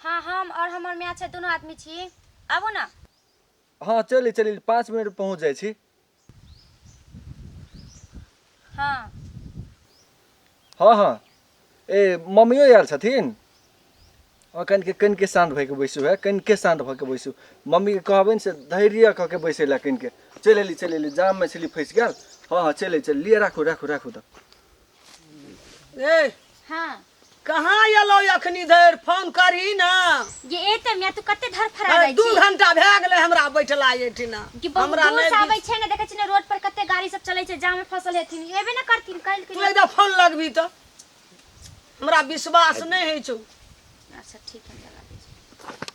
हाँ हम और हमर माय छै दोनों आदमी छी आबू ना हाँ चली चली पाँच मिनट पहुँच जाय छी हाँ हाँ हाँ ए मम्मियो आयल छथिन कनि के कनि के शान्त भइके बैसू है कनि के शान्त भऽ के बैसू मम्मीके कहबनि से धैर्य कऽ के बैसै लए कनि के चलि एली चलि एली जाममे छली फँसि गेल हाँ हाँ चलि चलि लिअ राखू राखू राखू तऽ ए हाँ कहाँ एलौ अखनी धरि फोन करही ना ये एते में तू कते धर फरा अरे जाइ दू छी घंटा भए गेलै हमरा बैठला एठिना कि बहुत हमरा दूर से नहि आबै छै ने देखै छी ने रोड पर कते गाड़ी सब चलै छै जाम में फसल हेथिन एबे ना करथिन काल्हि तू के एकदा फोन लगबी तऽ हमरा विश्वास नहि होइ छौ अच्छा ठीक है हम लगा दै छी।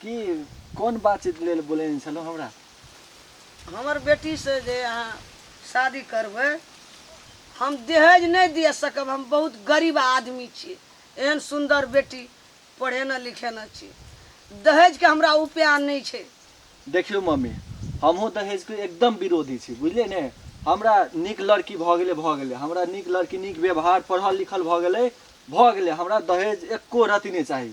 की कोन बातचीत लेल बोलेने छलहुँ हमरा हमर बेटीसँ जे अहाँ शादी करबै हम दहेज नहि दिअ सकब हम बहुत गरीब आदमी छी एहन सुन्दर बेटी पढ़ेने लिखेने छी दहेजके हमरा उपाय नहि छै देखियौ मम्मी हमहूँ दहेजके एकदम विरोधी छी बुझलियै ने हमरा नीक लड़की भऽ गेलै भऽ गेलै हमरा नीक लड़की नीक व्यवहार पढ़ल लिखल भऽ गेलै भऽ गेलै हमरा दहेज एक्को रति नहि चाही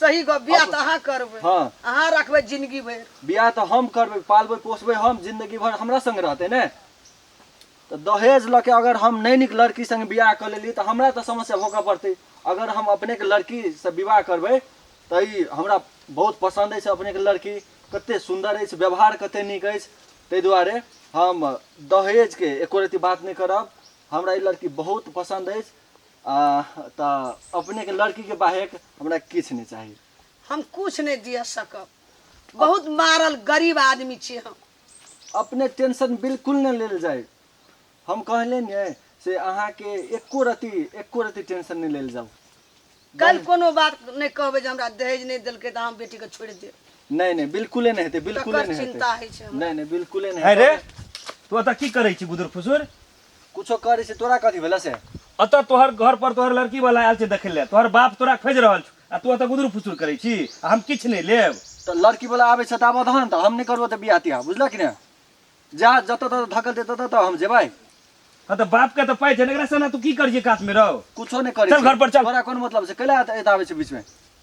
सही गप बियाह अब- तऽ अहाँ करबै हाँ। अहाँ रखबै जिंदगी भरि बियाह तऽ हम करबै पालबै पोसबै हम जिंदगी भर हमरा संग रहतै ने तऽ दहेज लऽ के अगर हम नहि नीक लड़की संग बियाह कऽ लेली तऽ हमरा तऽ समस्या भोगऽ पड़तै अगर हम अपने के लड़की से विवाह करबै तऽ ई हमरा बहुत पसंद अछि अपने के लड़की कते सुंदर अछि व्यवहार कते नीक अछि ताहि दुआरे हम दहेज के एको रती बात नहि करब हमरा ई लड़की बहुत पसंद अछि आ तऽ अपने के लड़की के बाहेक हमरा किछ नहीं चाहिए हम कुछ नहीं दिया सकब बहुत मारल गरीब आदमी छी हम अपने टेंशन बिल्कुल न लेल जाए हम कहले ने से अहाँ के एको रति एको रति टेंशन नहीं लेल जाऊ कल कोनो बात नहीं कहबे जे हमरा दहेज नहीं देलके त हम बेटी के छोड़ दे नहीं नहीं बिल्कुले नहीं हेते बिल्कुले तकर नहीं चिंता हेते है छै हमरा। नहीं नहीं बिल्कुले नहीं है रे हेतै। तू एतऽ की करै छी बुदुर फुसुर कुछो करी से तोरा कथी भेला से अतः तोहर घर पर तोहर लड़की वाला आयल छै देखे ले तोहर बाप तोरा खोज रहल छौ आ तू अतः गुदुर फुसुर करै छी आ हम किछु नहि लेब तो लड़की वाला आबे से आबऽ दहन तो हम नहीं करबो तो बियाह तियाह बुझल कि ने जा जत तत धकल दे तत तो हम जेबै हाँ तो बाप के तो पाइ छै ने एकरा से ना तू की करिए काश में रहो कुछो नहीं करी चल घर पर चल। तोरा कोन मतलब से कैला एत आबे छै बीच में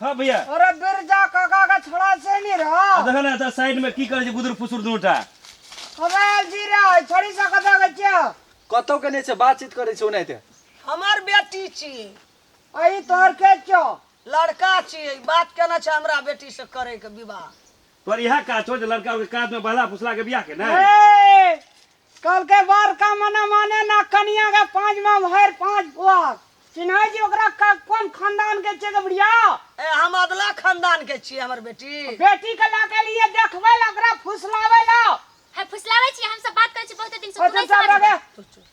हां भैया अरे बिरजा काका का छोड़ा से नहीं रहा देख ना तो साइड में की करे गुदुर फुसुर दूटा अबे जी रे छोड़ी सा कथा के क्या कतो के नहीं से बातचीत करे छे ओनाइते हमार बेटी छी अई तोर के क्यों लड़का छी बात केना छ हमरा बेटी से करे के विवाह तोर इहे काज छौ जे लड़का के काज में बहला फुसला के बियाह के नै ए, कल के बार का मना माने ना कनिया के पांच माँ भर पांच पुआर चिन्ह जी ओकरा का कौन खानदान के छे के बुढ़िया ए हम अदला खानदान के छियै हमर बेटी बेटी के ला के लिए देखबे ला ओकरा फुसलावे ला है फुसलावे छी हम सब बात करे छी बहुत दिन से ओ तू नहीं चुपचाप समझ रहे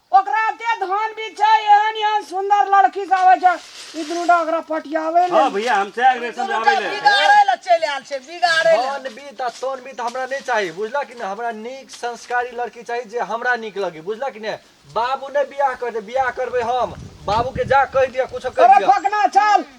ओकरा एते धान भी छै एहन एहन सुंदर लड़की सब आबै छै ई दुनूटा ओकरा पटियाबै ले हाँ भैया हम चाहे अग्रेसन में आवे ले बिगाड़े ला चलि आयल छै बिगाड़े ला धन बीत आ तोन बीत हमरा नहीं चाहिए बुझला कि नहीं हमरा नीक संस्कारी लड़की चाहिए जे हमरा नीक लगे बुझला कि नहीं बाबू नहीं बियाह करते बियाह करबे हम बाबू के जा कह दिया कुछ कह अरे दिया फकना चल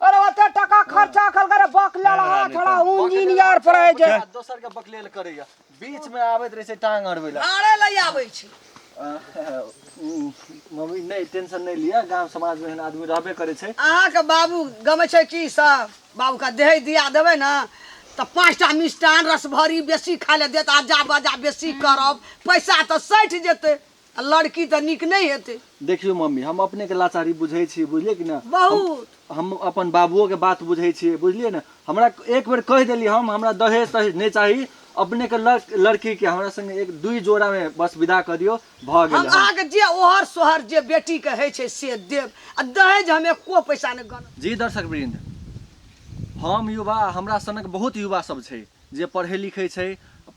अरे ओते टका खर्चा कल करे बकले रहा थोड़ा इंजीनियर पड़े जे दोसर के बकलेल करैया बीच में आबैत रहै छै टांग अड़बै लए आरे लइ आबै छी मम्मी नहि टेंशन नहि लिअ गांव समाज में एहन आदमी रहबे करै छै अहाँके बाबू गमे छै की सब बाबू का देह दिया देबै ने तऽ पाँचटा मिष्टान रसभरी बेसी खाय लए देत आजा बाजा बेसी करब पैसा तऽ सठि जेतै आ लड़की तऽ नीक नहि हेतै देखियौ मम्मी हम अपनेके लाचारी बुझै छी बुझलियै कि ने बहुत हम अपन बाबुओके बात बुझै छी बुझलियै ने हमरा एक बेर कहि देलियै हम हमरा दहेज तहेज नहि चाही अपनेके लड़- लड़कीके हमरा सङ्गे एक दुई जोड़ामे बस विदा कऽ दियौ भऽ हम गेलै अहाँके जे ओहर सोहर जे बेटीके होइ छै से देब आ दहेज हम एको पैसा नहि गन जी दर्शक वृन्द हम युवा हमरा सनक बहुत युवा सब छै जे पढ़ै लिखै छै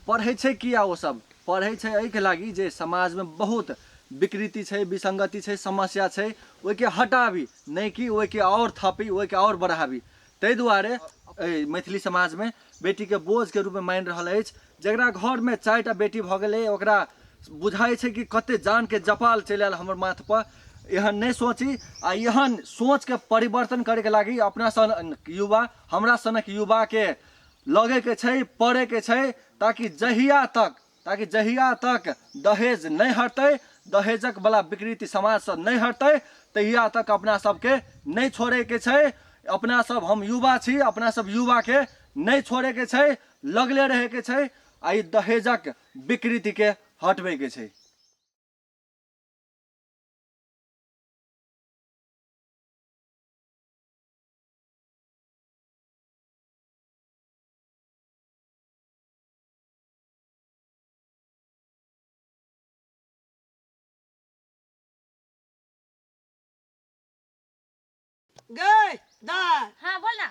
पढ़ै छै किया ओ सब पढ़ै छै एहिके लागि जे समाजमे बहुत विकृति छै विसङ्गति छै समस्या छै ओहिके हटाबी नहि कि ओहिके आओर थपी ओहिके आओर बढ़ाबी ताहि दुआरे एहि मैथिली समाजमे बेटीके बोझके रूपमे मानि रहल अछि जकरा घरमे चारि टा बेटी भऽ गेलै ओकरा बुझाइ छै कि कतेक जानके जपाल चलि आयल हमर माथपर एहन नहि सोची आ एहन सोचके परिवर्तन करैके लागि अपना सन युवा हमरा सनक युवाके लगै के छै पड़े के छै ताकि जहिया तक ताकि जहिया तक दहेज नहि हटतै दहेजक बला विकृति समाजसँ नहि हटतै तहिया तक अपना सबके नहि छोड़ैके छै अपना सब हम युवा छी अपना सब युवाके नहि छोड़ैके छै लगले रहैके छै आ ई दहेजक विकृतिके हटबैके छै गई दाय हाँ बोल ना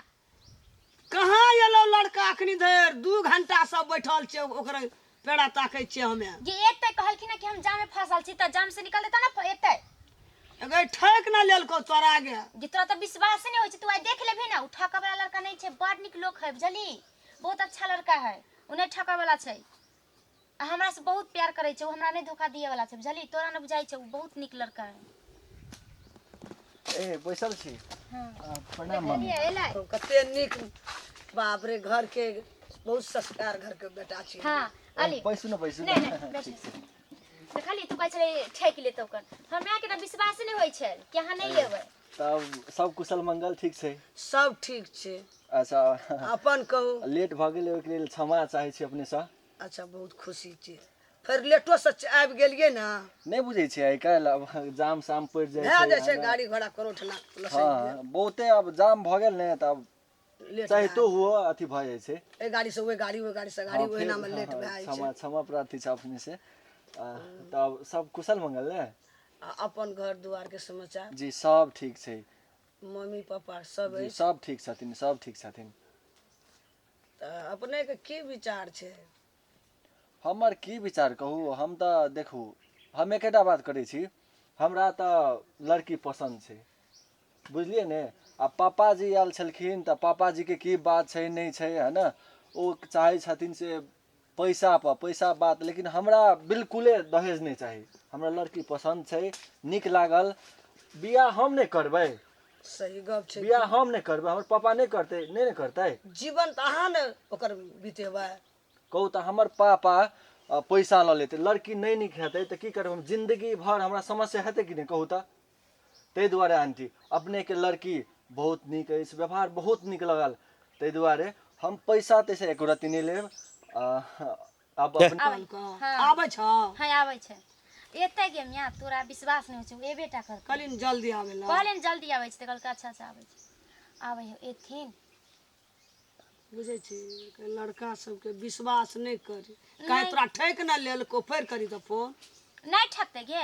कहाँ एलो लड़का अखनी धरि दू घंटा सब बैठल छै ओकरा पेड़ा ताकै छियै हमे जे एतै कहलखिन हँ कि हम जामे फंसल छी तऽ जाम से निकलतै तब ने फ- एतै एगो ठक ना लेलको तोरा आगे जे तोरा तऽ विश्वासे नहि होइ छै तू आइ देख लेबही ने ओ ठकऽ वाला लड़का नहि छै बड़ नीक लोक है बुझली बहुत अच्छा लड़का है ओ नहि ठकऽ वाला छै आ हमरा से बहुत प्यार करै छै ओ हमरा नहि धोखा दिए वाला छै बुझली तोरा ने बुझाइ छै ओ बहुत नीक लड़का है ए बैसल छी आ, प्रणाम मम्मी तो कते नीक बाप रे घर के बहुत संस्कार घर के बेटा छी हाँ अली बैसू न बैसू नहीं नहीं न बैठी तो खाली तू कहै छलै ठेक ले तो कर हमरा के तऽ विश्वास नहि होइ छै कि अहाँ नहि एबै तब सब कुशल मंगल ठीक छै सब ठीक छै अच्छा अपन कहू लेट भऽ गेलै ओहिके लेल क्षमा चाहै छी अपनेसँ अच्छा बहुत खुशी छी फिर लेटो से आबि गेलिए ना नहीं बुझे छे आई काल अब जाम साम पड़ जाए भए जाए छे गाड़ी घोड़ा करोठना हां बहुते अब जाम भ गेल ने तब चाहे तो हो अथी भ जाए छे ए गाड़ी से ओए गाड़ी ओए गाड़ी से गाड़ी ओए ना में लेट भए छे क्षमा क्षमा प्रार्थी छे अपने से तब सब कुशल मंगल ने अपन घर द्वार के समाचार जी सब ठीक छे मम्मी पापा सब सब ठीक छथिन सब ठीक छथिन तऽ अपनेके की विचार छै हमर की विचार कहू हम तऽ देखू हम एकेटा बात करै छी हमरा तऽ लड़की पसन्द छै बुझलियै ने आ पापाजी आयल छलखिन तऽ पापाजीके की बात छै नहि छै है ने ओ चाहै छथिन से पैसा पर पैसा बात लेकिन हमरा बिल्कुले दहेज नहि चाही हमरा लड़की पसन्द छै नीक लागल बियाह हम नहि करबै सही गप छै बियाह हम नहि करबै हमर पापा नहि करतै नहि ने करतै जीवन तऽ अहाँ ने ओकर बितेबै कहू तऽ हमर पापा पैसा लऽ लेतै लड़की नहि नीक हेतै तऽ की करबै हम जिन्दगी भर हमरा समस्या हेतै कि नहि कहू तऽ ताहि दुआरे आंटी अपनेके लड़की बहुत नीक अछि व्यवहार बहुत नीक लगल ताहि दुआरे हम पैसा तैसा एको रत्ती नहि लेब आ, आब अपने आबै छौ हँ आबै छौ हँ आबै छै एतै गे मिया तोरा विश्वास नहि होइ छै एबे टा कर कहली ने जल्दी आबै लए कहले ने जल्दी आबै छै तऽ कहलकै अच्छा अच्छा आबै छै आबै हो एथिन बुझै छी कि लड़का सबके विश्वास नहि करी काहे तोरा ठैक न लेलको फेर करी तऽ फोन नहि ठकतै गे